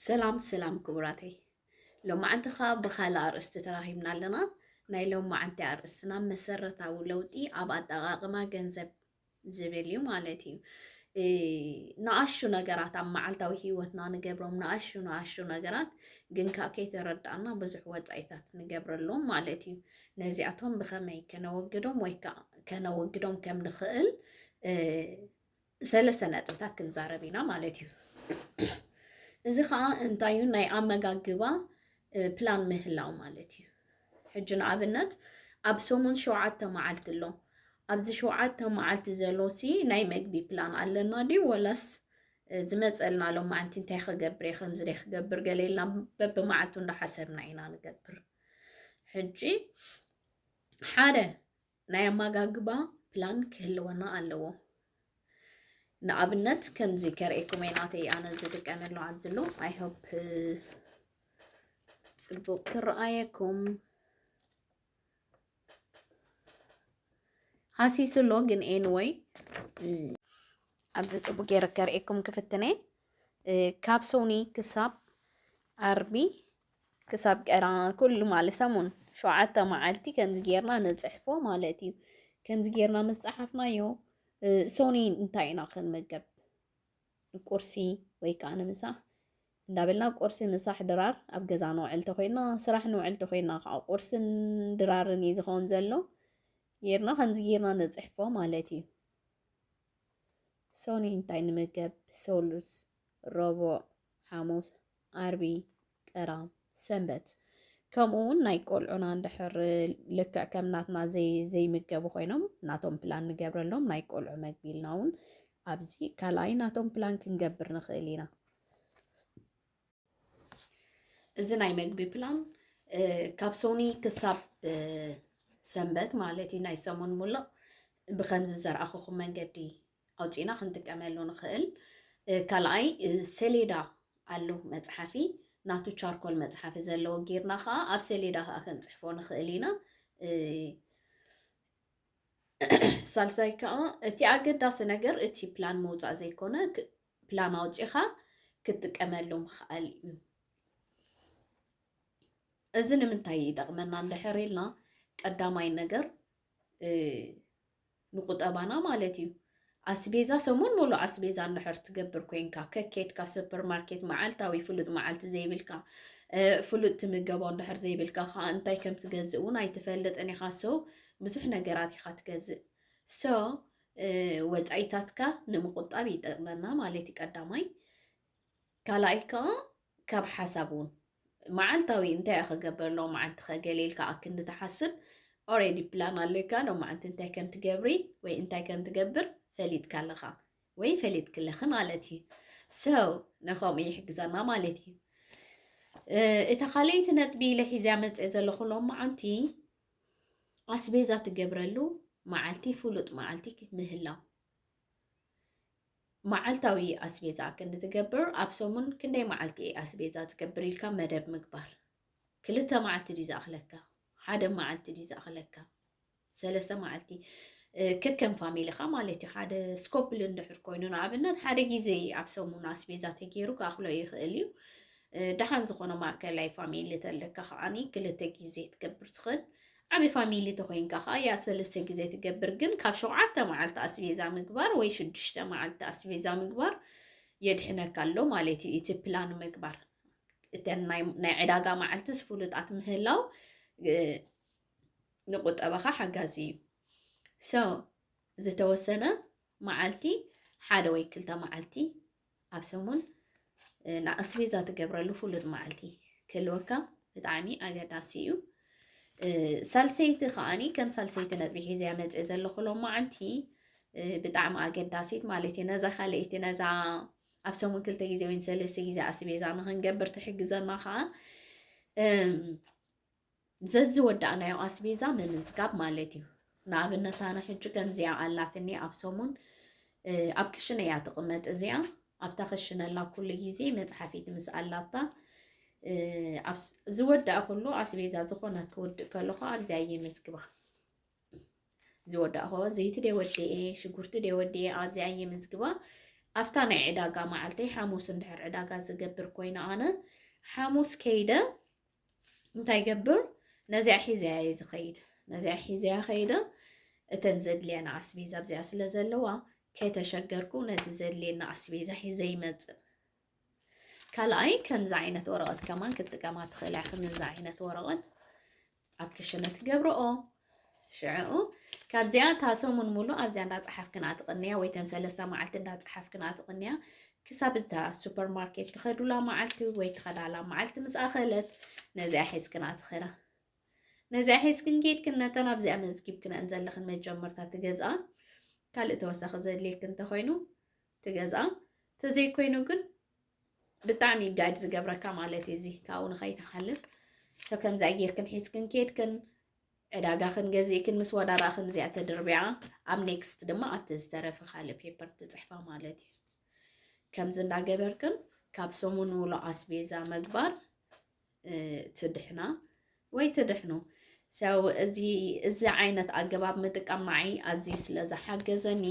ሰላም ሰላም ክቡራተይ ሎማዓንቲ ከዓ ብካልእ ኣርእስቲ ተራኺብና ኣለና። ናይ ሎማዓንቲ ኣርእስትና መሰረታዊ ለውጢ ኣብ ኣጠቃቅማ ገንዘብ ዝብል እዩ ማለት እዩ። ንኣሹ ነገራት ኣብ መዓልታዊ ሂወትና ንገብሮም ንኣሹ ንኣሹ ነገራት ግን ከዓ ከይተረዳእና ብዙሕ ወፃኢታት ንገብረሎም ማለት እዩ። ነዚኣቶም ብኸመይ ከነወግዶም ወይ ከዓ ከነወግዶም ከም ንኽእል ሰለስተ ነጥብታት ክንዛረብ ኢና ማለት እዩ። እዚ ከዓ እንታይ እዩ ናይ ኣመጋግባ ፕላን ምህላው ማለት እዩ። ሕጂ ንኣብነት ኣብ ሰሙን ሸውዓተ መዓልቲ ኣሎ ኣብዚ ሸውዓተ መዓልቲ ዘሎሲ ናይ መግቢ ፕላን ኣለና ድዩ ወላስ ዝመፀልና ሎም መዓልቲ እንታይ ክገብር እየ ከምዚ ደይ ክገብር ገለ ኢልና በብመዓልቱ እንዳሓሰብና ኢና ንገብር ሕጂ ሓደ ናይ ኣማጋግባ ፕላን ክህልወና ኣለዎ ንኣብነት ከምዚ ከርእኩም እየ ናተይ ኣነ ዝጥቀመሉ ኣብዚ ኣሎ ኣይ ሆፕ ፅቡቅ ክረኣየኩም ሃሲሱ ኣሎ ግን ኤንወይ ኣብዚ ፅቡቅ ገይረ ከርእኩም ክፍትነ ካብ ሶኒ ክሳብ ዓርቢ ክሳብ ቀዳም ኩሉ ማለት ሰሙን ሸውዓተ መዓልቲ ከምዚ ጌርና ንጽሕፎ ማለት እዩ። ከምዚ ጌርና ምስ ጸሓፍናዮ ሶኒ እንታይ ኢና ክንምገብ ንቁርሲ ወይ ከዓ ንምሳሕ እንዳበልና ቁርሲ ምሳሕ ድራር ኣብ ገዛ ንውዕል ተኮይና ስራሕ ንውዕል ተኮይና ከዓ ቁርስን ድራርን እዩ ዝኸውን ዘሎ ጌርና ከምዚ ጌርና ንፅሕፎ ማለት እዩ ሶኒ እንታይ ንምገብ ሰሉስ ረቡዕ ሓሙስ ዓርቢ፣ ቀዳም፣ ሰንበት ከምኡ ውን ናይ ቆልዑና እንድሕር ልክዕ ከም ናትና ዘይምገቡ ኮይኖም ናቶም ፕላን ንገብረሎም ናይ ቆልዑ መግቢ ኢልና ውን ኣብዚ ካልኣይ ናቶም ፕላን ክንገብር ንኽእል ኢና። እዚ ናይ መግቢ ፕላን ካብ ሶኒ ክሳብ ሰንበት ማለት እዩ ናይ ሰሙን ሙሉእ ብከምዚ ዘርኣኹኹም መንገዲ ኣውፂእና ክንጥቀመሉ ንኽእል። ካልኣይ ሰሌዳ ኣሎ መፅሓፊ ናቱ ቻርኮል መፅሓፊ ዘለዎ ጌርና ከዓ ኣብ ሰሌዳ ከዓ ክንፅሕፎ ንኽእል ኢና። ሳልሳይ ከዓ እቲ ኣገዳሲ ነገር እቲ ፕላን ምውፃእ ዘይኮነ ፕላን ኣውፂኻ ክትጥቀመሉ ምኽኣል እዩ። እዚ ንምንታይ ይጠቕመና እንድሕር ኢልና ቀዳማይ ነገር ንቁጠባና ማለት እዩ ኣስቤዛ ሰሙን ሙሉእ ኣስቤዛ እንድሕር ትገብር ኮይንካ ከኬድካ ሱፐር ማርኬት መዓልታዊ ፍሉጥ መዓልቲ ዘይብልካ ፍሉጥ ትምገቦ እንድሕር ዘይብልካ ከዓ እንታይ ከም ትገዝእ እውን ኣይትፈልጥን ኢኻ ሰው ብዙሕ ነገራት ኢኻ ትገዝእ ሰ ወፃኢታትካ ንምቁጣብ ይጠቅመና ማለት እዩ ቀዳማይ ካልኣይ ከዓ ካብ ሓሳብ ውን መዓልታዊ እንታይ እየ ክገብር ሎምዓንቲኸ ገለ ኢልካ ኣክንዲ ትሓስብ ኦሬዲ ፕላን ኣለካ ሎምዓንቲ እንታይ ከም ትገብሪ ወይ እንታይ ከም ትገብር ፈሊጥካ ኣለኻ ወይ ፈሊጥኪ ኣለኺ ማለት እዩ ሰው ንኸምኡ ይሕግዘና ማለት እዩ እታ ካልኣይቲ ነጥቢ ኢለ ሒዝያ መፅእ ዘለኹ ሎምዓንቲ ኣስቤዛ ትገብረሉ መዓልቲ ፍሉጥ መዓልቲ ምህላው መዓልታዊ ኣስቤዛ ክንዲ ትገብር ኣብ ሰሙን ክንደይ መዓልቲ እየ ኣስቤዛ ትገብር ኢልካ መደብ ምግባር ክልተ መዓልቲ ድዩ ዝኣኽለካ ሓደ መዓልቲ ድዩ ዝኣኽለካ ሰለስተ መዓልቲ ከከም ፋሚሊኻ ማለት እዩ ሓደ ስኮፕል እንድሕር ኮይኑ ንኣብነት ሓደ ግዜ ኣብ ሰሙን ኣስቤዛ ተገይሩ ክኣኽሎ ይኽእል እዩ ደሓን ዝኾነ ማእከላይ ፋሚሊ ተለካ ከዓኒ ክልተ ግዜ ትገብር ትኽእል ዓቢ ፋሚሊ ተኮይንካ ከኣ ያእ ሰለስተ ግዜ ትገብር ግን ካብ ሸውዓተ መዓልቲ ኣስቤዛ ምግባር ወይ ሽዱሽተ መዓልቲ ኣስቤዛ ምግባር የድሕነካ ኣሎ ማለት እዩ እቲ ፕላን ምግባር እተን ናይ ዕዳጋ መዓልትስ ፍሉጣት ምህላው ንቁጠባኻ ሓጋዚ እዩ ሰው ዝተወሰነ መዓልቲ ሓደ ወይ ክልተ መዓልቲ ኣብ ሰሙን ንኣስቤዛ ትገብረሉ ፍሉጥ መዓልቲ ክህልወካ ብጣዕሚ ኣገዳሲ እዩ ሳልሰይቲ ከዓኒ ከም ሳልሰይቲ ነጥቢ ሒዘ መፀ ዘለኹ ሎማዓንቲ ብጣዕሚ ኣገዳሲት ማለት እዩ ነዛ ካልኣይቲ ነዛ ኣብ ሰሙን ክልተ ግዜ ወይ ሰለስተ ግዜ ኣስቤዛ ንክንገብር ትሕግዘና ከዓ ዘዝወዳእናዮ ኣስቤዛ ምምዝጋብ ማለት እዩ። ንኣብነት ኣነ ሕጂ ከምዚኣ ኣላትኒ ኣብ ሰሙን ኣብ ክሽነ እያ ትቕመጥ እዚኣ ኣብታ ክሽነላ ኩሉ ግዜ መፅሓፊት ምስ ኣላታ ዝወዳእ ኩሉ ኣስቤዛ ዝኾነ ክውድእ ከለኹ ኣብዚኣ እየ መዝግባ ዝወዳእኹ ዘይቲ ደ ወዲኤ ሽጉርቲ ደ ወዲኤ ኣብዚኣ እየ መዝግባ ኣብታ ናይ ዕዳጋ መዓልተይ ሓሙስ እንድሕር ዕዳጋ ዝገብር ኮይነ ኣነ ሓሙስ ከይደ እንታይ ገብር ነዚኣ ሒዘያ እየ ዝኸይድ ነዚኣ ሒዘያ ከይደ እተን ዘድልየና ኣስቤዛ ኣብዚኣ ስለ ዘለዋ ከይተሸገርኩ ነቲ ዘድልየና ኣስቤዛ ሒዘ ይመፅእ ካልኣይ ከምዚ ዓይነት ወረቐት ከማን ክትጥቀማ ትኽእላ ከምዚ ዓይነት ወረቐት ኣብ ክሽነ ትገብረኦ ሽዕኡ ካብዚኣ እታ ሰሙን ሙሉእ ኣብዚኣ እንዳጸሓፍክን ኣትቕንያ ወይ ተን ሰለስተ መዓልቲ እንዳጸሓፍክን ኣትቕንያ ክሳብ እታ ሱፐር ማርኬት ትኸዱላ መዓልቲ ወይ ትኸዳላ መዓልቲ ምስ ኣኸለት ነዚኣ ሒዝክን ኣትኸና ነዚኣ ሒዝክን ኬድክን ነተን ኣብዚኣ መዝጊብክነን ዘለኽን መጀመርታ ትገዝኣ ካልእ ተወሳኺ ዘድልየክ እንተኾይኑ ትገዝኣ ተዘይኮይኑ ግን ብጣዕሚ እዩ ጋይድ ዝገብረካ ማለት እዩ እዚ ካብኡ ንኸይትሓልፍ ሰ ከምዚ ጌርክን ሒዝክን ኬድክን ዕዳጋኽን ገዚእክን ምስ ወዳዳኽን እዚኣ ተድርቢዓ ኣብ ኔክስት ድማ ኣብቲ ዝተረፈ ካልእ ፔፐር ትፅሕፋ ማለት እዩ ከምዚ እንዳገበርክን ካብ ሰሙን ሙሉእ ኣስቤዛ ምግባር ትድሕና ወይ ትድሕኑ። ሰው እዚ እዚ ዓይነት ኣገባብ ምጥቃም ንዓይ ኣዝዩ ስለ ዝሓገዘኒ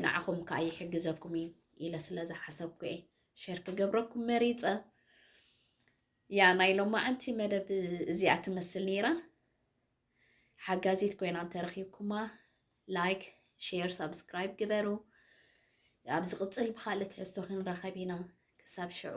ንዓኹም ከዓ ይሕግዘኩም እዩ ኢለ ስለ ዝሓሰብኩ እየ ሼር ክገብረኩም መሪፀ። ያ ናይ ሎማዓንቲ መደብ እዚኣ ትመስል ነይራ። ሓጋዚት ኮይና እንተረኺብኩማ ላይክ፣ ሼር፣ ሳብስክራይብ ግበሩ። ኣብ ዝቕፅል ብካልእ ትሕዝቶ ክንራኸብ ኢና። ክሳብ ሽዑ